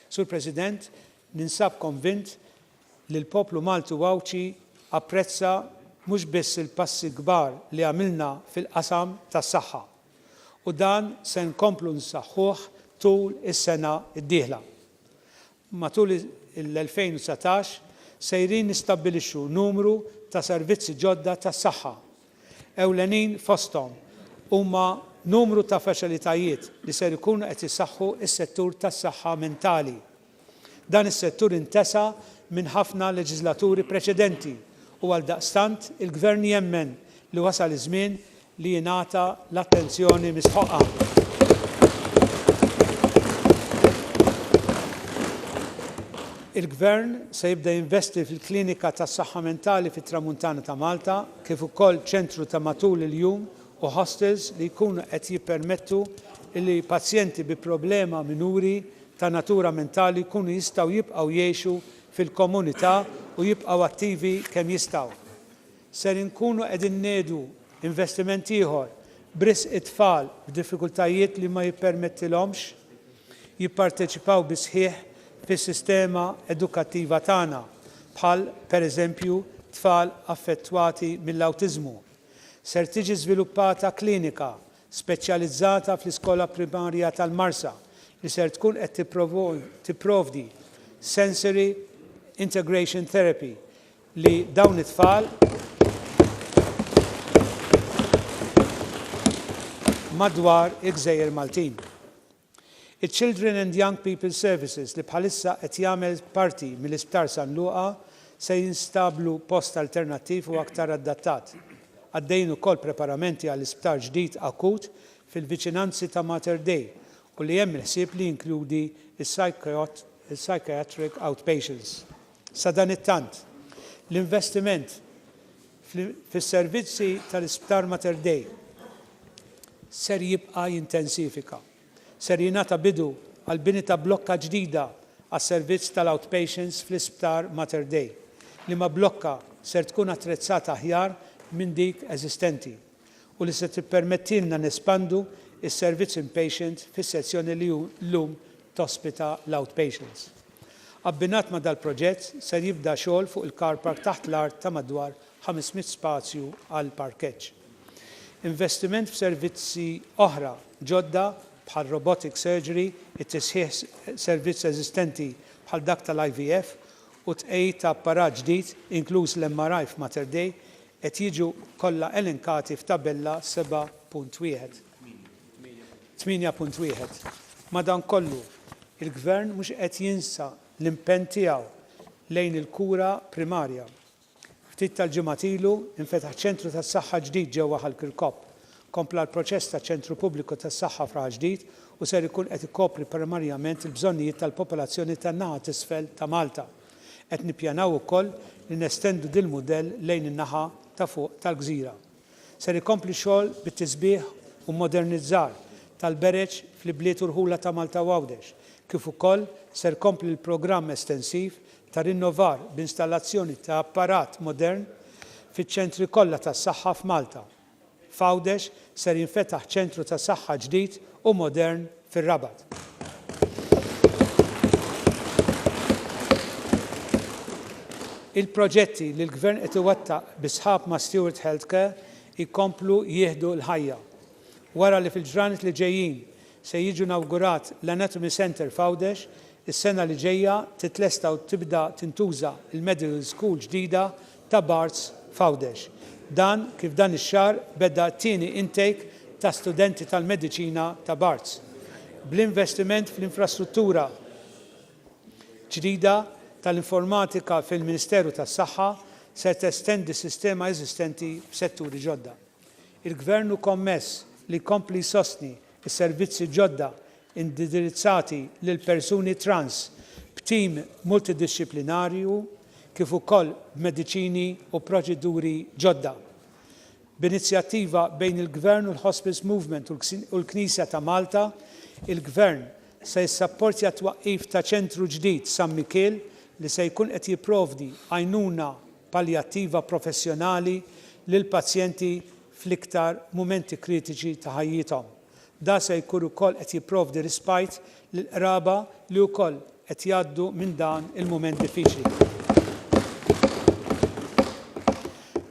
Sur President, ninsab konvint li l-poplu Malti u Għawdxi apprezza mhux biss il-passi l-kbar li għamilna fil-qasam tas-saħħa u dan se nkomplu nsaħħuh tul is-sena d-dieħla. Matul l-2019 sejrin nistabbilixxu numru ta' servizzi ġodda tas-saħħa. Ewlenin fosthom huma numru ta' faċilitajiet li ser ikunu qed isaħħu s-settur tas-saħħa mentali. Dan is-settur intesa minn ħafna leġiżlaturi preċedenti u għaldaqstant il-Gvern jemmen li wasal iż-żmien li jingħata l-attenzjoni mistħoqqha. Il-Gvern se jibda jinvesti fil-Klinika tas-Saħħa Mentali fit-Tramuntana ta' Malta kif ukoll ċentru ta' matul il-jum u hostels li jkunu qed jippermettu li pazjenti bi problema minuri ta' natura mentali jkunu jistgħu jibqgħu jgħixu fil-komunità u jibqgħu attivi kemm jistgħu. ser inkunu qegħdin ngħedu investiment ieħor b'risq it-tfal b'diffikultajiet li ma jippermettilhomx jipparteċipaw bis-sħiħ fis-sistema edukattiva tagħna, bħal pereżempju tfal affettwati mill-awtiżmu. Ser tiġi żviluppata klinika speċjalizzata fl-Iskola Primarja tal-Marsa li ser tkun qed tipprovdi sensory integration therapy, li dawn it-tfal madwar il-gżejjer Maltin. Iċ-Children and Young People Services li bħalissa qed jagħmel parti mill-Isptar San Luqa se jinstablu post alternattiv u aktar addattat. Għaddejjin ukoll preparamenti għal isptar ġdid akut fil-viċinanzi ta' Mater Dei u li hemm il-ħsieb li jinkludi s-psychiatric outpatients. Sadanittant, l-investiment fis-servizzi tal-Isptar Mater Dei ser jibqa' jintensifika. Ser jingħata bidu għall-bini ta' blokka ġdida għas-servizz tal-outpatients fl-Isptar Mater Dei, liema blokka ser tkun attrezzata aħjar minn dik eżistenti. u li se tippermettilna nespandu s-servizz inpatient fis-sezzjoni li llum tospita l-outpatients. Abbinat ma' dal-proġett ser jibda xogħol fuq il-car park taħt l-art ta' madwar 500 spazju għal parkeġġ. Investiment f'servizzi oħra ġodda bħal robotic surgery, it-tisħiħ servizz eżistenti bħal dak tal-IVF u t-tqegħid ta' apparat ġdid inkluż l-MRI f'Mater Dei qed jiġu kollha elenkati f'Tabella 7.1. 8.1 Madankollu, il-Gvern mhux qed jinsa l-impenn tiegħu lejn il-kura primarja. Ftit tal-ġimgħat ilu, infetaħ ċentru tas-saħħa ġdid ġewwa Ħal Kirkop. Kompla l-proċess ta' ċentru pubbliku tas-saħħa f'Raħal Ġdid u ser ikun qed ikopri primarjament il-bżonnijiet tal-popolazzjoni tan-naħa t'isfel ta' Malta. Qed nippjanaw ukoll li nestendu dil-mudell lejn in-naħa ta' fuq tal-gżira. Ser ikompli x-xogħol bit-tisbiħ u modernizzar tal-bereġ fl-ibliet u rħula ta' Malta u Għawdex, kif ukoll ser kompli l-programm estensiv ta' rinnovar b'installazzjoni ta' apparat modern fiċ-ċentri kollha tas-saħħa f'Malta. F'Għawdex ser jinfetaħ ċentru ta' saħħa ġdid u modern fir-Rabat. Il-proġetti li l-Gvern qed iwettaq bi sħab ma' Steward Health Care jkomplu jieħdu l-ħajja. Wara li fil-ġranet li ġejjin se jiġu nawgurat l-Anatomy Centre f'Għawdex, is-sena li ġejja titlesta u tibda tintuża l-Medical School ġdida ta' Barts f'Għawdex. Dan kif dan ix-xahar beda t-tieni intake ta' studenti tal-mediċina ta' Barts. Bl-investiment fl-infrastruttura ġdida tal-informatika fil-Ministeru tas-Saħħa se testendi s-sistema eżistenti f'setturi ġodda. Il-Gvern hu kommess li jkompli jsostni s-servizzi ġodda indirizzati lill-persuni trans b'tim multidixxiplinarju kif ukoll b'mediċini u proċeduri ġodda. B'inizjattiva bejn il-Gvern u l-Hospice Movement u l-Knisja ta' Malta, il-Gvern se jissapportja t-twaqqif ta' Ċentru ġdid San Mikiel li se jkun qed jipprovdi għajnuna paljattiva professjonali lill-pazjenti fl-iktar mumenti kritiċi ta' ħajjithom. Dan se jkun ukoll qed jipprovdi rispajt lill-qraba li wkoll qed jgħaddu minn dan il-mument diffiċli.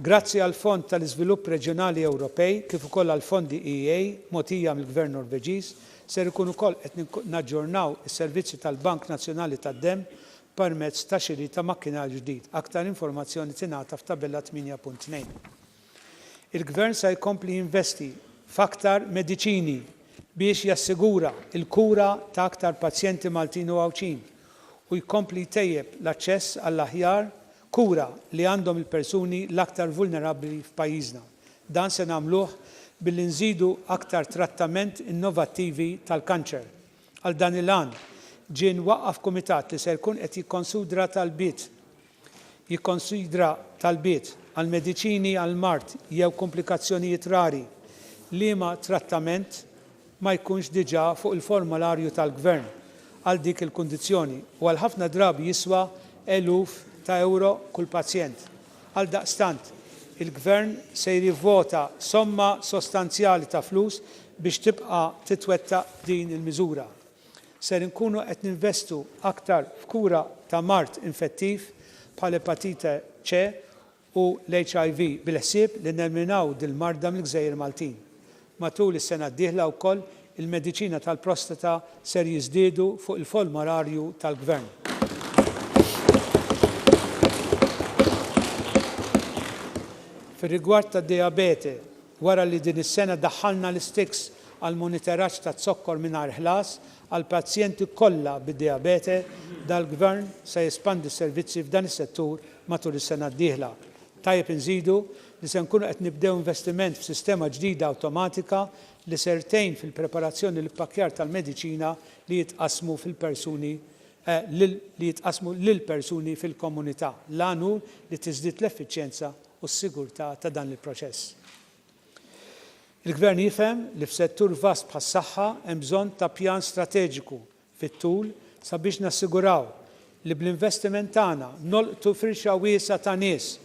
Grazzi għall-Fond tal-Iżvilupp Reġjonali Ewropej kif ukoll għall-fondi EA mogħtija mill-Gvern Norveġiż, ser ikun ukoll qed naġġornaw is-servizzi tal-Bank Nazzjonali tad-Demm permezz ta' xiri ta' makkinarju ġdid. Aktar informazzjoni tingħata f'Tabella 8.2. Il-Gvern se jkompli jinvesti f'aktar mediċini biex jassigura l-kura ta' aktar pazjenti Maltin u Għawdxin u jkompli jtejjeb l-aċċess għall-aħjar kura li għandhom il-persuni l-aktar vulnerabbli f'pajjiżna. Dan se nagħmluh billi nżidu aktar trattament innovattivi tal-kanċer. Għal dan il-għan, ġie mwaqqaf kumitat li ser ikun qed jikkonsidra talbiet jikkonsidra talbiet għal mediċini għal mard jew kumplikazzjonijiet rari liema trattament ma jkunx diġà fuq il-formularju tal-Gvern għal dik il-kundizzjoni u għal ħafna drabi jiswa eluf ta' ewro kull pazjent. Għaldaqstant, il-Gvern se jirivvota somma sostanzjali ta' flus biex tibqa' titwettaq din il-miżura. Ser inkunu qed ninvestu aktar f'kura ta' mard infettiv bħal epatite C u l-HIV bil-ħsieb li neliminaw dil-marda mill-gżejjer Maltin. Matul is-sena d-dieħla wkoll il-mediċina tal-prostata ser jiżdiedu fuq il-folmararju tal-Gvern. Fir-rigward tad-dijabete, wara li din is-sena daħħalna l-isticks għall-moniteraġġ taz-zokkor mingħajr ħlas għall-pazjenti kollha bid-dijabete, dal-Gvern se jespandi s-servizzi f'dan is-settur matul is-sena d-dieħla. Tajjeb inżidu li se nkunu qed nibdew investiment f'sistema ġdida awtomatika li ser tgħin fil-preparazzjoni u l-ippakkjar tal-mediċina li jitqassmu fil-persuni lil li jitqassmu lill-persuni fil-komunità. L-għan hu li tiżdied l-effiċjenza u s-sigurtà ta' dan il-proċess. Il-Gvern jifhem li f'settur vast bħas-saħħa hemm bżonn ta' pjan strateġiku fit-tul sabiex nassiguraw li bl-investiment tagħna nolqtu firxa wiesgħa ta' nies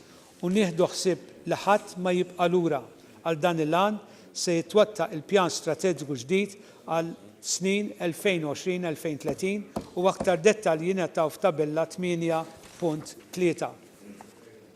u nieħdu ħsieb li ħadd ma jibqa' lura. Għal dan il-għan se jitwettaq il-Pjan Strateġiku ġdid għal snin 2020-2030 u aktar dettalji jingħataw f'Tabella 8.3.